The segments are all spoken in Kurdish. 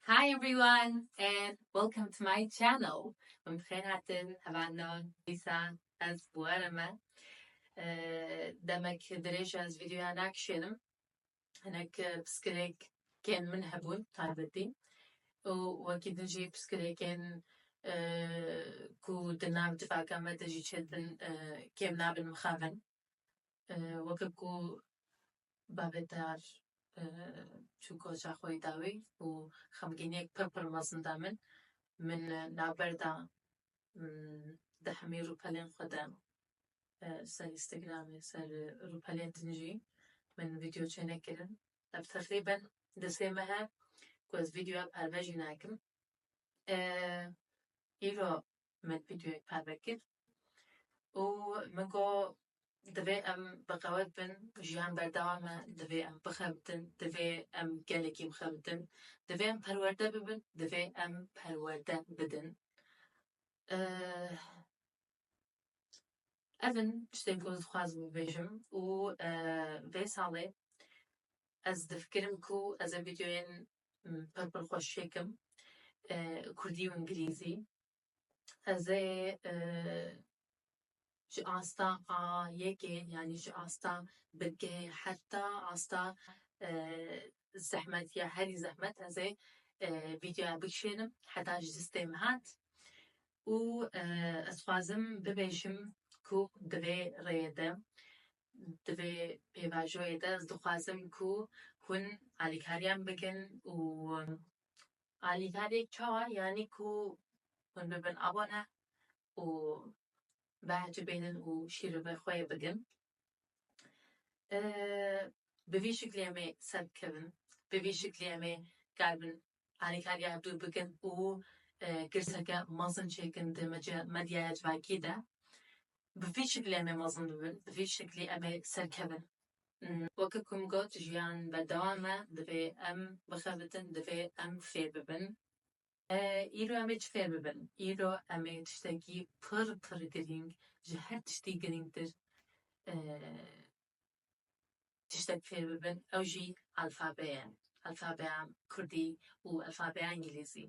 Hi everyone and welcome to my channel. Em xêr hatin hevalna dîsa ez were me. Demek dirêj ez videoya nakişênim. Hinek piskirêk kên min hebûn taybetî û wekî din jî piskirêkên ku di nav civaka me de jî çêdibin kêm nabin mixabin. weke ku bavê te çû koça xwe yê dawî û xemgîniyek pir pir mezin da min. Min navber da di hemî rûpelên xwe de ser Instagramê ser rûpelên din jî min vîdyo çêne kirin. Ev teqrîben di sê mehe ku ez vîdyoya perve jî nakim. Îro min vîdeoyek parve kir û min got divê em bixewe bin, jiyan berdewam e, divê em bixebitin, divê em gelekî bixebitin, divê em perwerde bibin, divê em perwerde bidin. Ev in tiştên ku ez dixwazim bibêjim û vê salê ez difikirim ku ez ê vîdeoyên pir pir xweş çêkim, kurdî û îngilîzî. Ez ê ji asta a yekê yanî ji asta binggehê heta asta zehmetiya herî zehmet ez ê vîdeoya bikişênim heta ji distê min hat û ez dixwazim bibêjim ku di vê rêyê de di vê pêvajoyê de ez dixwazim ku hûn alîkariyan bikin û Alîkariyek çawa yanî ku hûn bibin abone û behecî bêhnin û şîrovê xwe yê bigin. Bi vî şiklî em ê serbikevin, bi vî şiklî em ê karibin alîkariya hev dûr bikin û girseke mezin çêkin di medyaya civakî de. Bi vî şiklî em ê mezin bibin, bi vî şiklî em ê serkevin. Weke ku min got jiyan berdewam e divê em bixebitin divê em fêr bibin. Îro em ê çi fêr bibin? Îro em ê tiştekî pir pir girîng ji her tiştî girîngtir tiştek fêr bibin ew jî alfabeye. alfabeya kurdî û alfabeya îngîlîzî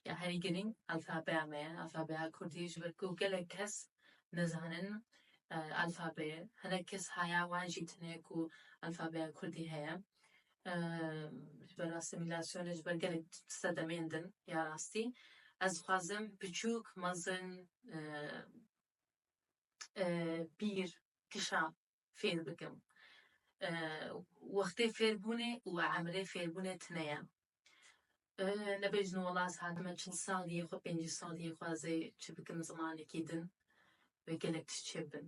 ya herî girîng alfabeya me ye. Alfabeya kurdî ji ber ku gelek kes nizanin alfabeyê hinek kes haya wan jî tune ku alfabeya kurdî heye ji ber asîmîlasyonê ji ber gelek sedemeyên din ya rastî ez dixwazim biçûk mezin pîr kişa fêr bikim. Wextê fêrbûnê û emrê fêrbûnê tune ye. Nebêjin welat hatime çil sal yê xwe pêncî sal yê xwe ez ê çi bikim zimanekî din wê gelek tişt çêbibin.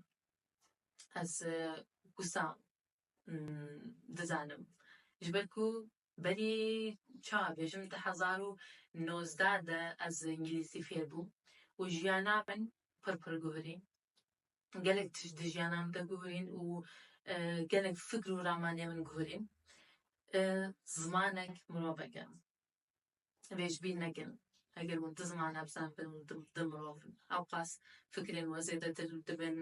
Ez wisa dizanim ji ber ku berî çawa bêjim di hezar û nozdeh de ez îngilîzî fêr bûm û jiyana min pir pir guherî. gelek tişt di jiyana min de guherîn û gelek fikr û ramanê min guherîn. Zimanek mirovek e. Vê ji bîr nekin. Eger hûn du ziman nebizanibin hûn du mirov in. Ewqas fikrên we zêdetir dibin,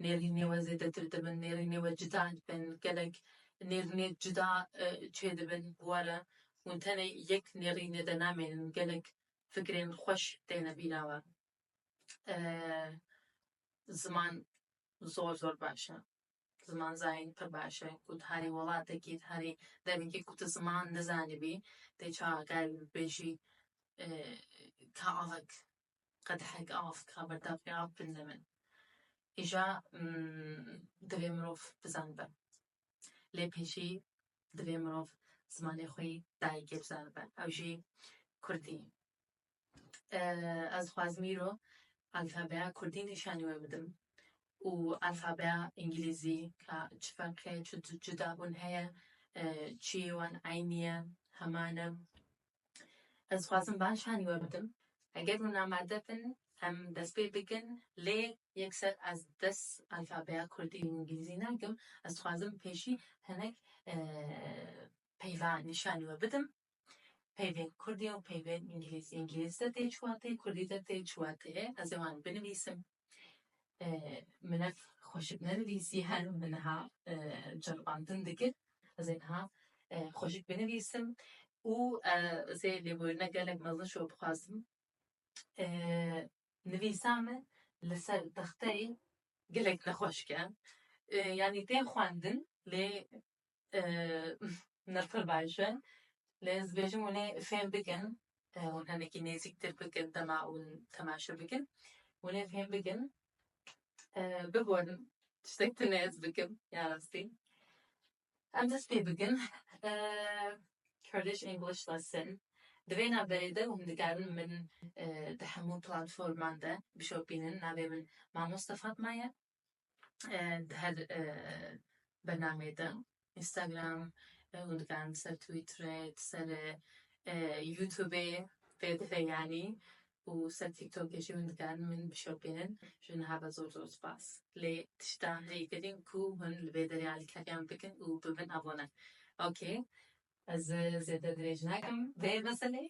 nêrînê we zêdetir dibin, nêrînê we cida dibin, gelek nêrînê cida çêdibin bi we re. Hûn tenê yek nêrînê de namênin, gelek fikrên xweş têne bîra we. ziman zor zor baş e. Ziman zayîn pir baş e ku ti herî welatekî ti herî demekî ku ti ziman nizanibî tê çawa gel bêjî ka avik qedehek av ka berdavkê av binde min. Îja divê mirov bizanibe lê pê jî divê mirov zimanê xwe yî dayîkê bizanibe ew jî kurdî. Ez dixwazim îro alfabeya kurdî nîşanî we bidim û alfabeya îngîlîzî ka çi ferq heye, çi cudabûn heye, çiyê wan eynî ye, heman e. Ez dixwazim van nîşanî we bidim. Eger hûn amade bin em dest pê bikin lê yekser ez dest alfabeya kurdî û îngîlîzî nakim. Ez dixwazim pêşî hinek peyva nîşanî we bidim peyvên kurdî û peyvên îngîlîzî, îngîlîzî de tê çiwatê, kurdî de tê çiwatê, ez ê wan binivîsim, min ev xweşik nenivîsî her min niha ceribandin dikir, ez ê niha xweşik binivîsim û ez ê lêbûrîna gelek mezin ji we bixwazim, nivîsa min li ser texteyê gelek nexweş ke, yanî tên xwendin lê Nirxir baş e. Lê ez dibêjim hûn ê fêm bikin, hûn hinekî nêzîktir bikin dema hûn temaşe bikin. Hûn ê fêm bikin. Biborin tiştek tune ez bikim ya rastî. Em dest pê bikin Kurdish English Lesson. Di vê navberê de hûn dikarin min di hemû platforman de bişopînin. Navê min Mamoste Fatma ye. di her bernameyê de Instagram hûn dikan di ser Twitterê di ser Youtubê pê dive yanî û ser Tiktokê jî hûn dikan min bişopînin ji wan re zor zor spas lê tişta heyî kirîn ku hûn li vê derê alîkariyan bikin û bi min abone ok ez zêde dirêj nakim vê meseleyê.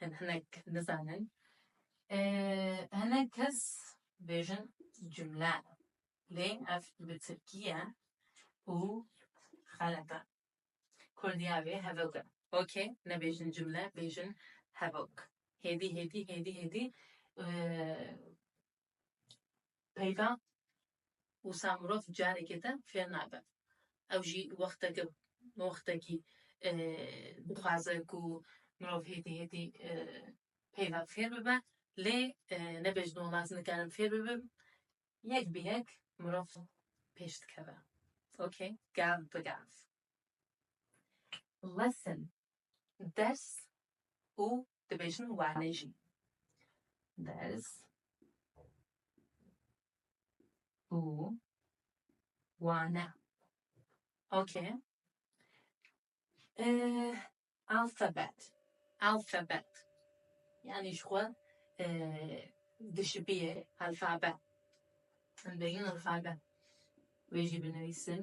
hin hinek nizanin. Hinek kes bêjin cumle lê ev bi tirkî ye û xelet e. Kurdî ya wê hevok e. Ok nebêjin cumle bêjin hevok. Hêdî hêdî hêdî hêdî Peyva wisa mirov carekê din fêr nabe. Ew jî wexteke wextekî dixwaze ku mirov hêtî hêtî peyva fêr bibe lê nebe ji dolaz nikarin fêr bibin yek bi yek mirov pêş dikeve ok gav bi gav. Lesson ders û dibêjin wane jî. Ders û wane. Okay. Ee, alfabet. Alfabet. Yani ji xwe dişibiyê alfabe. Dibêjin alfabe. Wê jî binivîsim.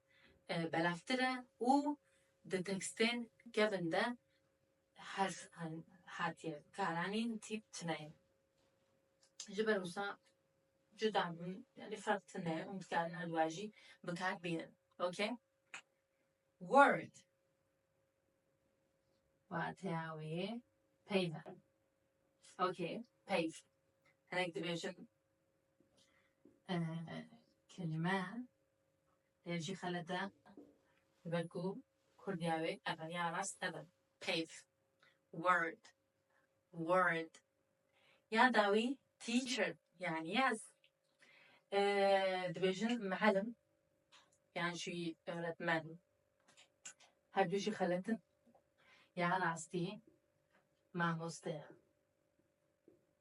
belavtir e û di tekstên kevin de herf hatiye karanîn tîp tune ye. Ji ber wisa cuda bûn yanî ferq tune ye û dikarin her duwa jî bi kar bînin. Ok word wateya wê yê peyv e. Ok peyv hinek dibêjin kelime Ev jî xelet e. Ji ber ku kurd ya wê ev e, ya rast ev e. Peyv, word, word. Ya dawî teacher yanî ez. Dibêjin mihelim yan jî öğretmen. Her du jî xelet in. Ya rastî mamoste ye.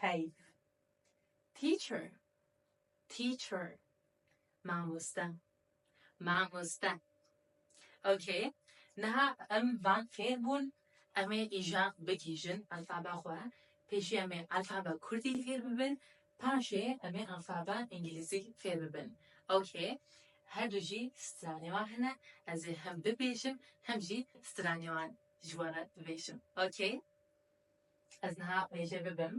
Peyv, Teacher, teacher, mamoste, mamoste. Ok, niha em van fêr bûn, em ê îja bigihîjin alfaba xwe, pêşî em ê alfaba kurdî fêr bibin, paşê em ê alfaba îngîlîzî fêr bibin. Ok, her du jî stranê wan hene, ez ê hem bibêjim hem jî stranê wan ji we re bibêjim. Ok, Ez niha wê jê bibim.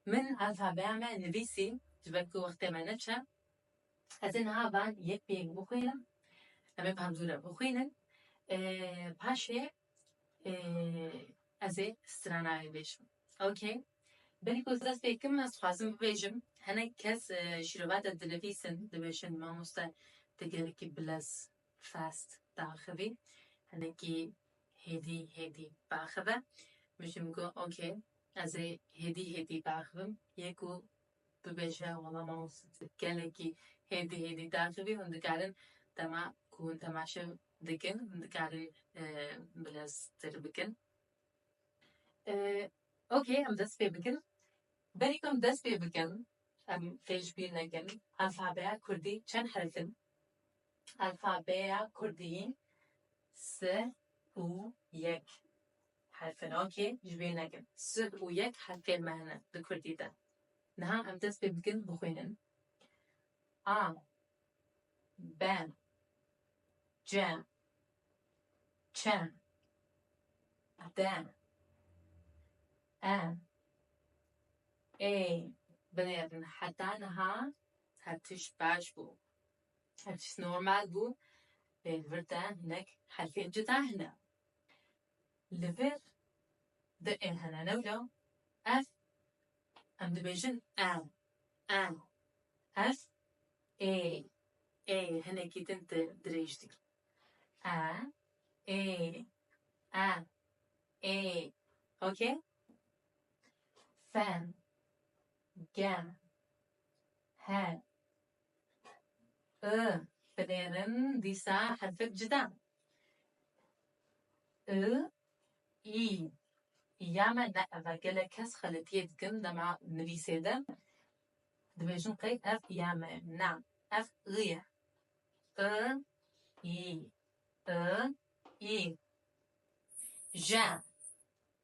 Min alfabeya me nivîsî ji ber ku wextê me neçe. Ez ê niha van yek pênk bixwînim. Em ê bi hem zû re bixwînin. Paşê ez ê strana bibêjim. Ok. Belê ku ez dest pê kim, ez dixwazim bibêjim hinek kes şîrovate dinivîsin, dibêjin mamoste tu gelekî bilez, fast, diaxivî. Hinekî hêdî hêdî biaxive. Min jî min got ok. Ez ê hêdî hêdî biaxivim. Yek û. bibêje wala mama gelekî hêdî hêdî diaxivî hûn dikarin dema ku hûn temaşe dikin hûn dikarin bileztir bikin ok em dest pê bikin berî ku em dest pê bikin em pêşbîr nekin alfabeya kurdî çend herf in alfabeya kurdî sih û yek. Herfinokê ji wê nekin. Sih û yek herfên me hene di kurdî de. Niha em dest pê bikin bixwînin. A be ce çe de e ê binêrin. Heta niha her tişt baş bû. Her tişt normal bû. Lê li vir de hinek herfên cuda hene. Li vir di ê hene new de ev em dibêjin e, e. Ev ê, ê hinekî din di dirêj dikî. E, ê, e, ê. Ok? Fen, gem, he. Binêrin dîsa herfek cida. I, î, ya me ne ev e. Gelek kes xeletiyê dikin dema nivîsê de dibêjin qey ev ya me ye. Na, ev i ye. I, yî, i, î. Je,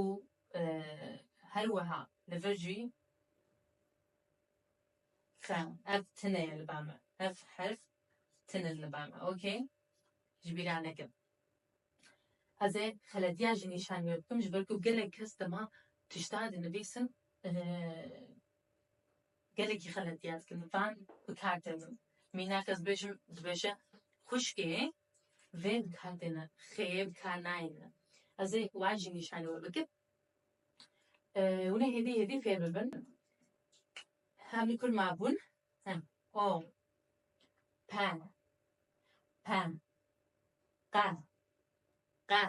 û her wiha li vir jî xe ev tune ye li ba me ev herf tune li ba me ok ji bîra nekin ez ê xeletiya jî nîşan wê bikim ji ber ku gelek kes dima tişta dinivîsin gelekî xeletiya dikin van bi kar tê min mînak ez dibêjim dibêje xwişkê Vê dikatê ne, xêyê bi kar nayê ne. Ez ê wa jî nîşanî we bikim. Hûn ê hêdî hêdî fêr bibin. Hem li kul ma bûn. Hem o pe pe qe qe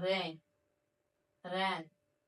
rê re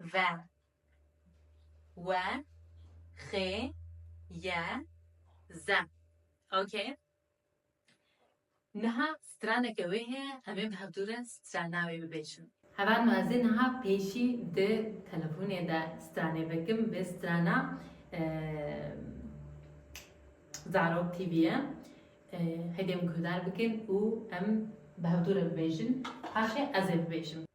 ve, we, xê, ye, ze. Ok? Niha straneke wê heye em ê bi hevdû re strana wê bibêjin. Heval me ez ê niha pêşî di telefonê de stranê vekim bi strana Zarok TV ye. Heydê min guhdar bikin û em bi hevdû re bibêjin. Paşê ez ê bibêjim.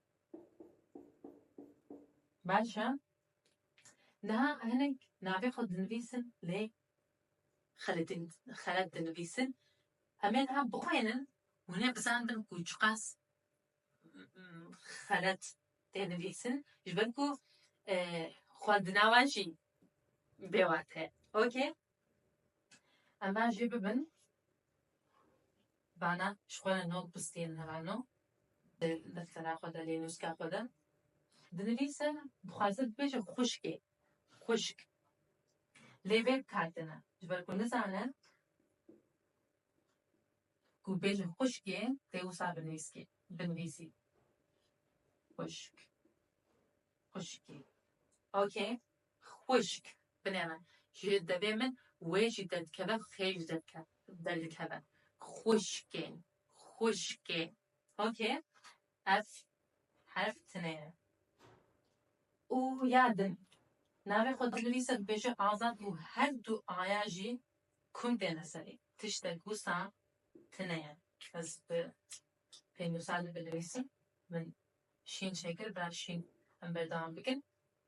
Baş e. Niha hinek navê xwe dinivîsin lê xelet dinivîsin. Em ê niha bixwînin hûn ê bizanibin ku çiqas xelet tê nivîsin ji ber ku xwe di nava jî bê wate ye. Okey. Em ba jê bibin. Vana ji xwe re no pistiyên herano di deftera xwe de lê nûska xwe de dinivîse dixwaze bibêje xwişkê, xwişk lê vê bikardine ji ber ku nizane ku bêje xwişkê tê wisa binivîskê binivîsî xwişk, xwişkê ok. Xwişk, binê min, ji devê min wê jî derdikeve xêj derdikeve. Xwişkê, xwişkê. Ok, ev herf tinê ye. Û ya din, navê xwe dinivîse dibêje Azad û her du aya jî kum têne serê. Tiştek wisa tinê ye. Ez bi pênûsa li binivîsim. Min şîn çêkir, bira şîn em berdewam bikin.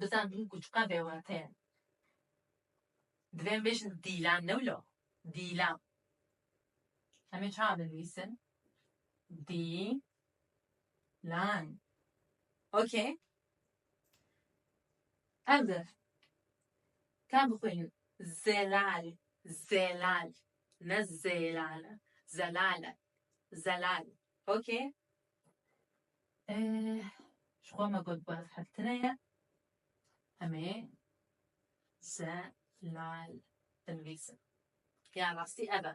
bizanîn ku çi qas bêwate ye. Divê em bêjin dîlan ne wilo, dîlan. Em ê çawa binivîsin? Dîlan. Okey. Ev de ka bixwînin zelal, zelal ne zêlal e. Zelal e. Zelal. Okey. Jixwe me got bav heftine ye. Em ê zelal binivîsin. Ya rastî ev e.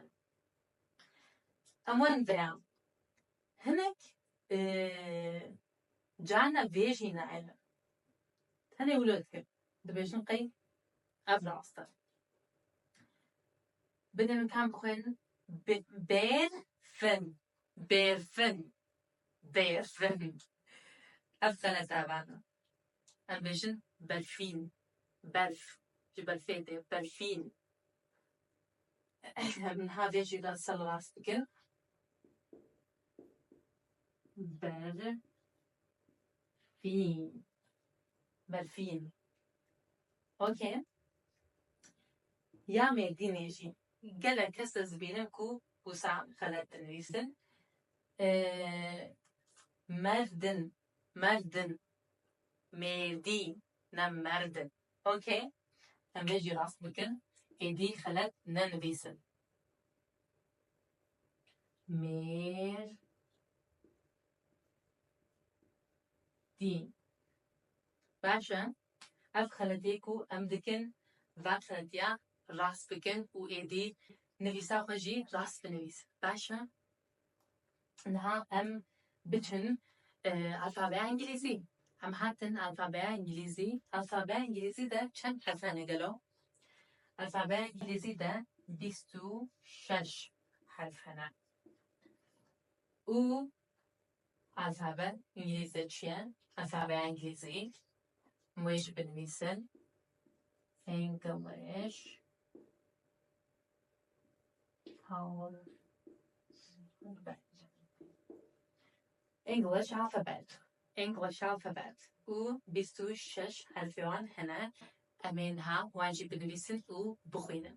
Ewan veya hinek carna vê jî nayêne. Tenê wilo dikin. Dibêjin qey ev rast e. Bidê min tam bixwînin bêrfin. Bêrfing, bêrfing. Ev xelete vana. Em bêjin berfîn. Berf, ji berfê tê. Berfîn. Em niha vê jî re sal rast bikin. Berfîn. Berfîn. Okey. Ya mêdînê jî gelek kes ez dibînim ku Wisa xelet dinivîsin merdin merdin mêrdî ne merdin ok em vê jî rast bikin êdî xelet nenivîsin mêrdîn baş e. Ev xeletê ku em dikin veqetiya rast bikin û êdî nivîsa xwe jî rast binivîs. Baş e niha em biçin alfabeya îngîlîzî. Em hatin alfabeya îngîlîzî. Alfabeya îngîlîzî de çend hefe ne gelo? Alfabeya îngîlîzî de bîst û şeş herf hene. Û Alfabe îngîlîze çi ye? Alfabeya îngîlîzî wê jî binivîsin. English alphabet. English alphabet. English alphabet û bîst û şeş herfê wan hene. Em ê niha wan jî binivîsin û bixwînin.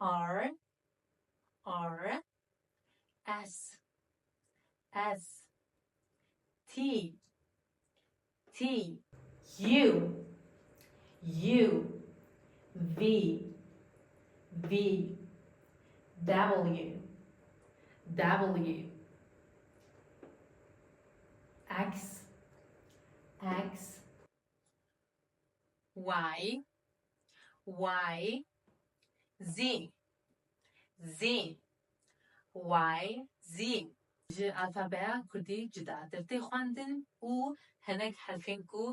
R R S S T T U U V V W W X X Y Y Z Z Y Z Ji alfabeya Kurdî cudatir tê xwendin û hinek herfên ku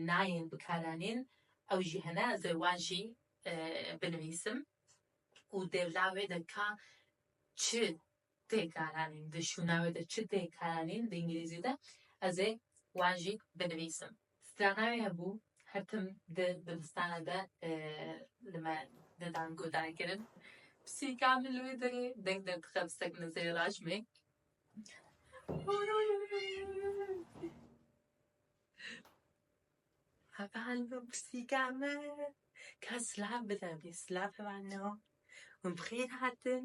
nayên bikaranîn ew jî hene ez ê wan jî binivîsim û dêvla wê de ka çi Tê karanîn di şûna wê de çi tê karanîn di îngilîzî de ez ê wan jî binivîsim. Strana wê hebû her tim di dibistana de li me didan guhdarkirin. Pisîka min li wê derê deng derdixe bi sek min serê rajmê. Hevalno pisîka min ka silav bide bî silav hevalno hûn bi xêr hatin.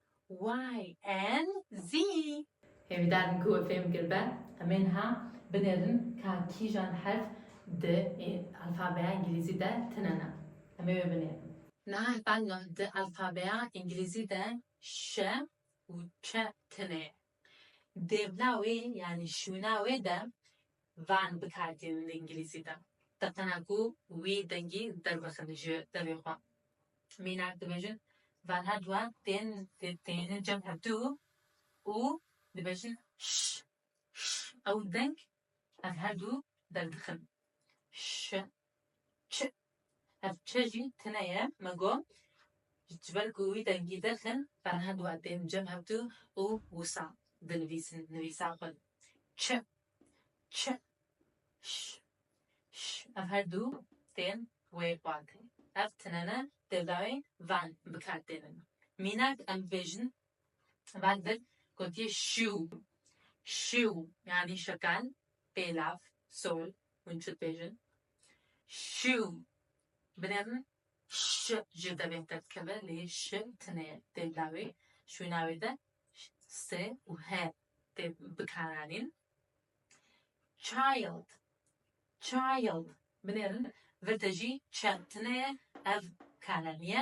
YNZ. Hêvîdar min ku we fêm kir be, em ê niha binêrin ka kîjan herf di alfabeya îngîlîzî de tine ne. Em ê wê binêrin. Nah bang di alfabeya îngîlîzî de ş û ç tine ye. Dêvna wê yanî şûna wê de van bi kar tînin li îngilîzî de. Teqena ku wî dengî derbixin ji devê xwe. Mînak dibêjin vanha duan tên têne cem hevdû û dibêjin ş, ş. Ew deng Ev her du derdixin. Ş, Ç, Ev Ç jî tune ye, me got, ji ber ku wî dengî derxin, berhev dû e tên cem hev du û wisa dinivîsin, nivîsa xwe. Ç, Ç, Ş, Ş, Ev her du tên wê xwedê. Ev tune ne, tevdawî van bi kar tênin. Mînak em dibêjin Baldir gotiye şiw, şiw yanî şekel, pêlav, sol, hûn çi dibêjin? Şiw, binê min ş jê te bêhter dikeve lê ş tune tê bila wê, şwîna wê de s û h tê bikaranîn. Child, child, binêrin vir de jî ç tune ye ev karanî ye,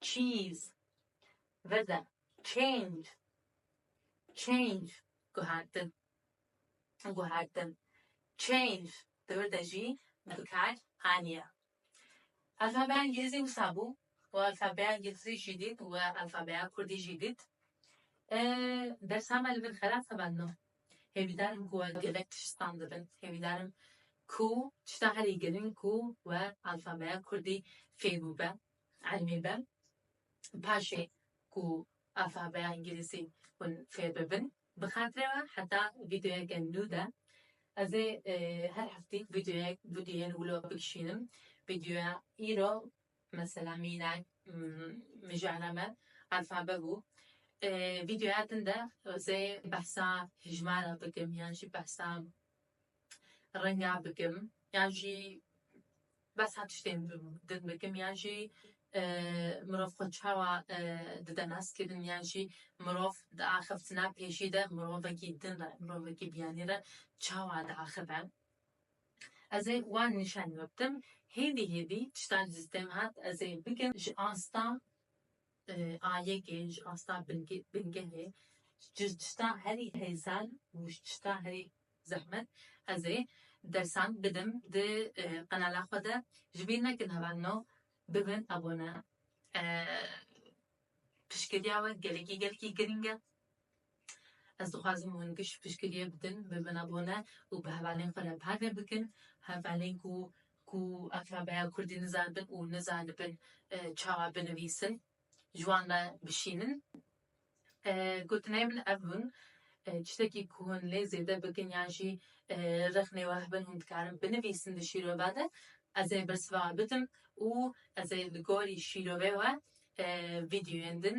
Cheese, veze, change, change, guhertin, guhertin, change, di wir de jî bikar aniye. Alfabeya îngilîzî wisa bû û alfabeya îngilîzî jî dît û alfabeya kurdî jî dît. Dersa me li vir xerab xebandino. Hêvîdar im ku we gelek tişt sand dibin. Hêvîdar im ku tişta herî giring ku we alfabeya kurdî fêr bûbe Elmî be paşê ku alfabeya îngilîzî hûn fêr bibin bi xatirê we heta vîdeoyeke nû de ez ê her heftî vîdeoyek bi dû yên wilo bikişînim. Vîdeoya îro mesela mînak mijara me alfabe bû. Vîdeoya din de ez ê behsa hijmara bikim yan jî behsa renga bikim yan jî behsa tiştên din bikim yan jî mirov xwe çawa dide naskirin yan jî mirov di axiftina pêşî de mirovekî din re mirovekî biyanî re çawa diaxive. Ez ê wan nîşan bidim hêvî hêvî tiştan li destê min hat ez ê bikim ji asta Ayegê ji asta bingehê ji tişta herî hêzal û ji tişta herî zehmet ez ê dersan bidim di qenala xwe de. Ji bîr nekin heval no bibin abone. Piştgiriya we gelekî gelekî girîng e. Ez dixwazim hûn giş piştgiriyê bidin, bi min re bone û bi hevalên xwe re parve bikin, hevalên ku ku alfabeya kurdî nizanibin û nizanibin çawa binivîsin, ji wan re bişînin. Gotinên min ev bûn, tiştekî ku hûn lê zêde bikin yan jî rexnê we hebin hûn dikarin binivîsin di şîrova de, ez ê bersiva bidim û ez ê li gorî şîrovê we vîdyoyên din